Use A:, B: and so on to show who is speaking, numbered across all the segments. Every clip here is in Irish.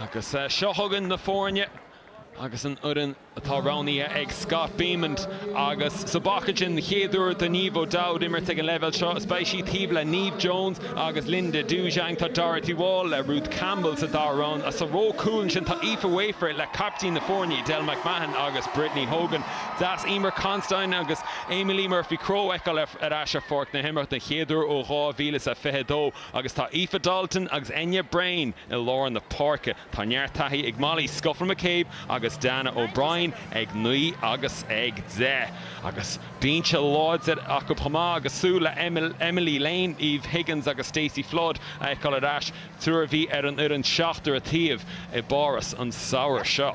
A: Agus seo chugainn na foirne agus an fhoireann atá roghnaithe ag Scott Bemand. Agus sa bpaca sin, an chéad uair do Niamh O'Dowd imirt ag an leibhéal seo, is beidh sí taobh le Neve Jones agus Linda Djougang. Tá Dorothy Wall le Ruth Campbell sa dara ró. Sa ró cúil ansin, tá Aoife Wafer le caiptín na foirne, Edel McMahon agus Brittany Hogan. Deas Eimear Considine agus Amee-Leigh Murphy Crowe a fheiceáil ar ais ar pháirc na himeartha den chéad uair ó 2022. Agus tá Aoife Dalton agus Enya Breen i lár na páirce. Tá neart taithí ag Molly Scuffil McCabe agus Dannah O'Brien ag naoi agus ag deich. Agus binse láidir acu chomh maith agus súil le Emily Lane, Eve Higgins agus Stacey Flood a fheiceáil ar ais, triúr a bhí ar an fhoireann seachtar an taobh i bPáras an samhradh seo.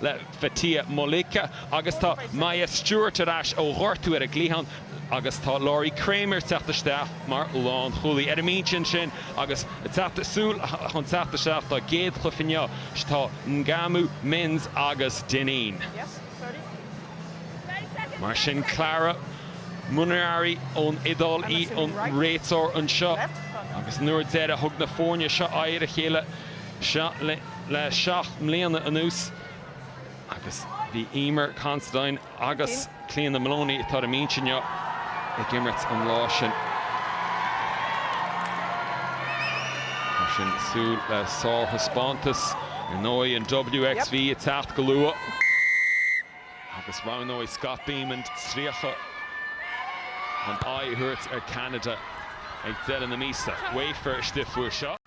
A: le Faitala Moleka agus tá Maya Stewart ar ais ó ghortú ar an gcliathán agus tá Lori Cramer ag teacht isteach mar lánchúlaí. Ar an mbinse ansin agus ag teacht súil chun teacht isteach dá gcéad chluiche inniu tá Ngauamo, Minns agus Dinnen. Mar sin Clara Munarini ón Iodáil í an réiteoir anseo agus an uair deiridh a thug na foirne seo aghaidh ar a chéile seo le le seacht mbliana anuas agus bhí Eimear Considine agus Cliodhna Moloney, atá ar an mbinse inniu, ag imirt an lá sin. Mar sin, súil le sárthaispeántas. Ar ndóigh, an WXV ag teacht go luath agus roghnóidh Scott Bemand 30 chun aghaidh a thabhairt ar Canada ag deireadh na míosa. Wafer istigh faoi seo.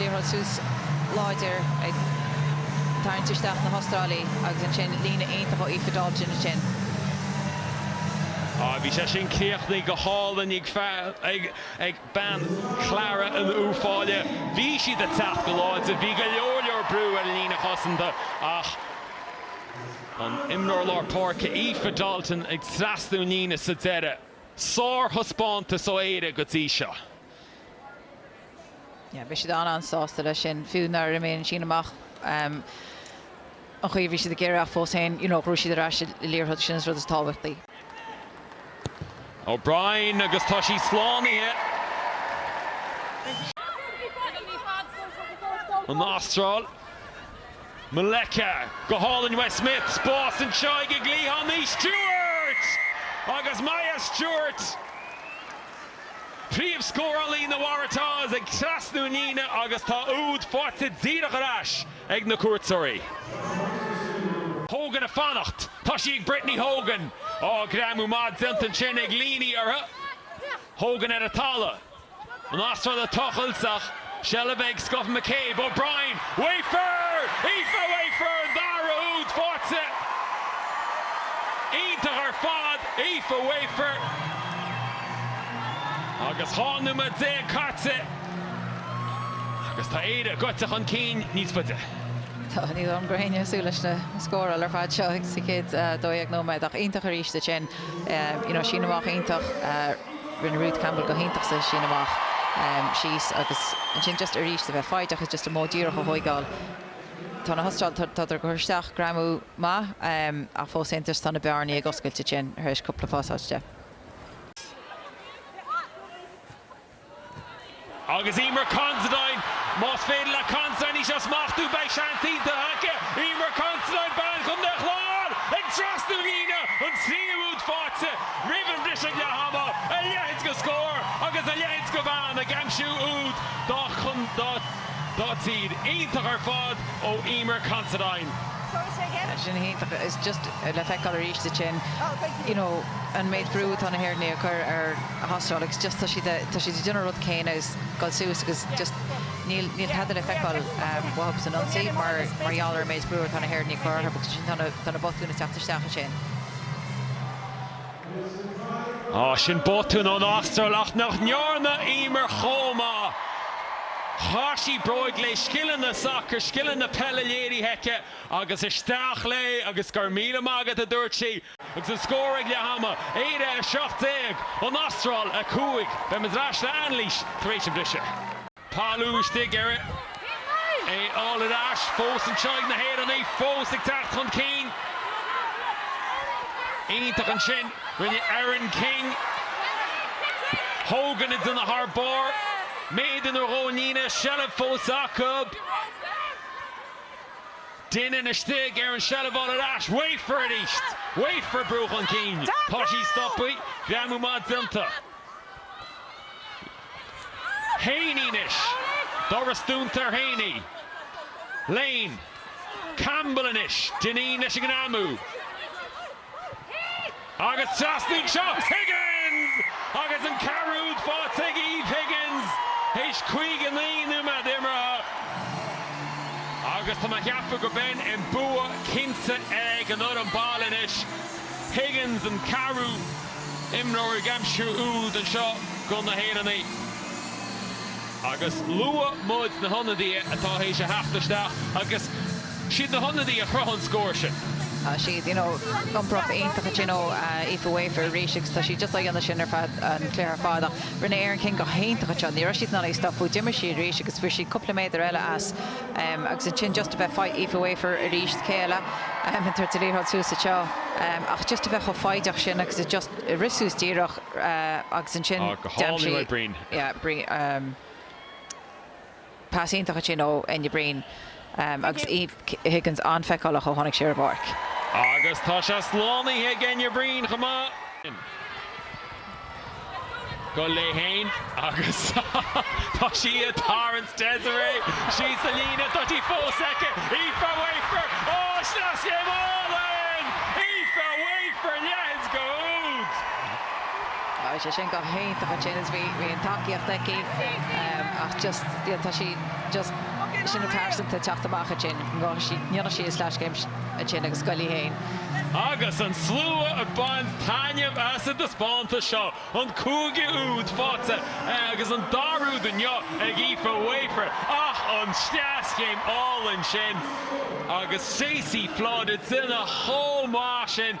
A: Liathróid suas láidir ag tarraingt isteach na hAstrálaigh agus ansin líne iontach ó Aoife Dalton ansin. Á, bhí sé sin críochnaithe go hálainn ag fear, ag bean Clara in Uíbh Fhailí. Bhí siad ag teacht go láidir, bhí go leor leor brú ar an líne chosanta ach an t-imreoir lár páirce Aoife Dalton ag trasnú an líne sa deireadh. Sár-thaispeántas ó Éire go dtí seo. yeah beidh siad an-an-sásta leis sin fiú nár imigh an síneadh amach um an chaoi a bhí siad ag iarraidh ach fós féin you know ghnóthaigh siad ar ais an liathróid sin é an rud is tábhachtaí. O'Brien agus tá sí slánaithe. An Astráil. Moleka go hálainn uaithi, Smith, spás anseo ag Leon Stewart! Agus Maya Stewart! Príomhscórálaí na Waratahs ag trasnú an líne agus tá úd faighte díreach ar ais ag na cuairteoirí. Hogan ag fanacht. Tá sí ag Brittany Hogan. Ó greamú maith déanta ansin ag Leaney uirthi. Hogan ar an talamh. An Astráil ag tochailt ach. Seilbh ag Scott McCabe, O'Brien, Wafer! Aoife Wafer an dara úd faighte! Iontach ar fad, Aoife Wafer! Agus tá nóiméad déag caite agus tá Éire goidte chun cinn níos faide. Tá ní rabhthas ag súil leis na scóráil ar fad seo sa chéad 12 nóiméad ach iontach arís ansin. You know, síneadh amach iontach. Rinne Ruth Campbell go hiontach sa sín amach síos agus ansin just arís is a bheith foighdeach is just an modh díreach a thóigeáil. Tá na hAstráil, tádar ag cur isteach greamú maith ach fós féin just tá na bearnaí ag oscailt ansin tar éis cúpla pasáiste. Agus Eimear Considine, más féidir le Considine í seo a smachtú, beidh seans iontach aice. Eimear Considine, bean Chontae an Chláir, ag trasnú na líne an tríú úd faighte roimh an bhriseadh leath ama. A leithéid de scór agus a leithéid de bhean ag aimsiú úd dá tír. Iontach ar fad ó Eimear Considine. Sin iontach. Is just le feiceáil arís ansin. you know an méid brú atá na hÉireannaigh a chur ar na hAstrálaigh it's just tá siad a tá siad a déanamh an rud céanna is dul suas agus just níl níl tada le feiceáil um, acub san ionsaí mar mar gheall ar an méid brú atá na hÉireannaigh a chur orthu agus sin tá na tá na botúin a teacht isteach ansin Á sin botún ón Astráil ach nach ndearna Eimear chomh maith. Chaith sí bróig léi, scileanna sacair, scileanna peile léirithe aici. Agus isteach léi agus go raibh míle maith agat, a dúirt sí. Agus an scór ag leath ama, Éire 17, An Astráil 5. Beimid ar ais le hanailís tar éis an bhriseadh. Talamh istigh ar a dhul ar ais fós anseo ag na hÉireannaigh, fós ag teacht chun cinn. Iontach ansin, ó Erin King Hogan a déanamh thar barr, méadar nó dhó ón líne seilbh fós acu. Duine istigh ar an seilbh fáil ar ais. Wafer arís! Wafer a brú chun cinn! Tá sí stoptha. Greamú maith déanta. Heaney anois. Doras dúnta ar Heaney. Lane. Campbell anois. Dineen leis an ngreamú. Agus trasna anseo Higgins! Agus an ceathrú úd faighte ag Eve Higgins théis 59 nóiméad imeartha. Agus tá mé a cheapadh go bhfuil an bua cinnte ag an fhoireann baile anois. Higgins an ceathrú imreoir ag aimsiú úd anseo do na hÉireannaigh. Agus luaigh muid na hionadaithe atá théis a theacht isteach agus. Siad na hionadaí a chruthaigh an scór sin. Tá siad, you know, iompairach iontach ansin, you know, Aoife Wafer arís agus tá sí just á dhéanamh sin ar feadh an chluiche ar fad ach rinne Erin King go hiontach anseo. Ní raibh siad in ann í stopadh. D'imir sí arís agus fuair sí cúpla méadar eile as agus ansin just a bheith fai, Aoife Wafer arís, céile, ag tabhairt an liathróid suas anseo ach just a bheith chomh foighdeach sin agus a just a rith suas díreach agus ansin, go hálainn, ó Breen, yeah, Breen. Pas iontach sin ó Enya Breen agus Eve Higgins an-feiceálach ó tháinig sí ar an bpáirc. Agus tá sé slánaithe ag Enya Breen chomh maith. Go léi féin agus tá sí ag tarraingt Desiree síos sa líne. Tá sí fós aici. Aoife Wafer, áis na scéimeanna! Aoife Wafer, leath de úd! Tá sé sin go hiontach ansin is bhí an tacaíocht aici ach just tá sí just sin an phearsantacht teacht amach ansin go ndéanfadh sí a sleaschéim ansin agus go léi féin. Agus an slua ag baint taitneamh as an taispeántas seo, an cúigiú úd faighte agus an dara úd inniu ag Aoife Wafer, ach an sleaschéim álainn sin agus Stacey Flood duine chomh maith sin,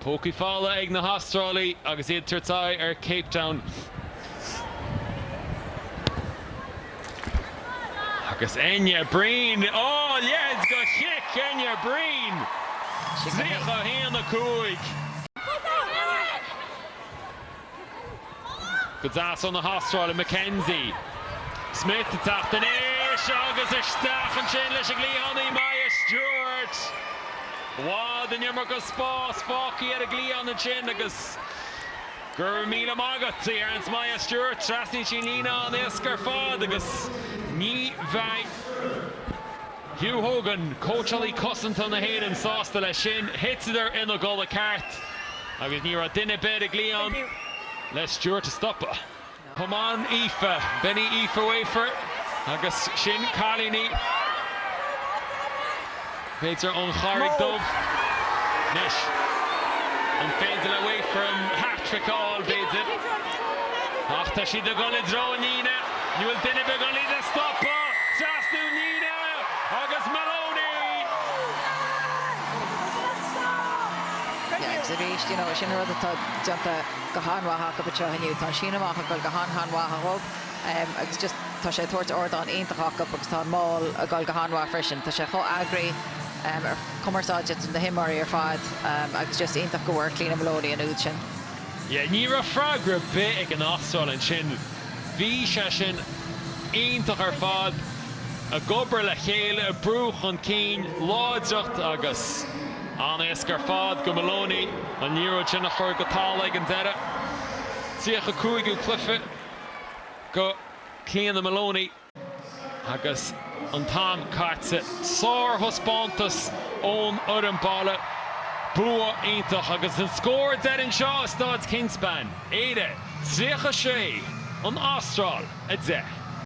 A: Pócaí fála ag na hAstrálaigh agus iad ag tabhairt aghaidh ar Cape Town agus Enya Breen, a leithéid de chic, Enya Breen, 31, 5. Go deas ó na hAstrálaigh, McKenzie. Smith ag teacht aníos agus isteach ansin leis an gcliathánaí Maya Stewart. I bhfad in iomarca spás fágtha ag an gcliathánaí ansin agus go raibh míle maith agat, a deireanns Maya Stewart. Trasnaíonn sí an líne an-éasca ar fad agus ní bheidh. Hugh Hogan, cóitseálaí cosanta na hÉireann, sásta leis sin. Thiteadar ina gcodladh ceart agus ní raibh duine ar bith ag ligean le Stewart a stopadh. Come on Aoife, Benny Aoife Wafer agus sin cailíní b'fhéidir ón Charraig Dhubh. Anois, an féidir le Wafer an hat-trick a fháil b'fhéidir? Ach tá siad ag dul i dtreo na líne. An bhfuil duine ar bith in ann í a stopadh? Trasna na líne agus Maloney! Agus arís, you know, sin rud atá déanta go han-mhaith acu anseo inniu. Tá an síneadh amach ag dul go han-han-mhaith dhóibh agus just tá sé ag tabhairt ardán iontach acu agus tá an mál ag dul go han-mhaith freisin. Tá sé chomh eagraithe, an chumarsáid idir na himreoirí ar fad agus just iontach go bhfuair Cliona Maloney an úd sin. Ní raibh freagra ar bith ag an Astráil ansin. Bhí sé sin iontach ar fad, ag obair le chéile, ag brú chun cinn, láidreacht agus an-éasca ar fad go Moloney an liathróid sin a chur go Tala ag an deireadh. 35ú cluiche go Clíona Moloney. Agus an t-am caite. Sárthaispeántas ón fhoireann baile. Bua iontach agus an scór deiridh anseo i Staid Kingspan. Éire 36, An Astráil 10.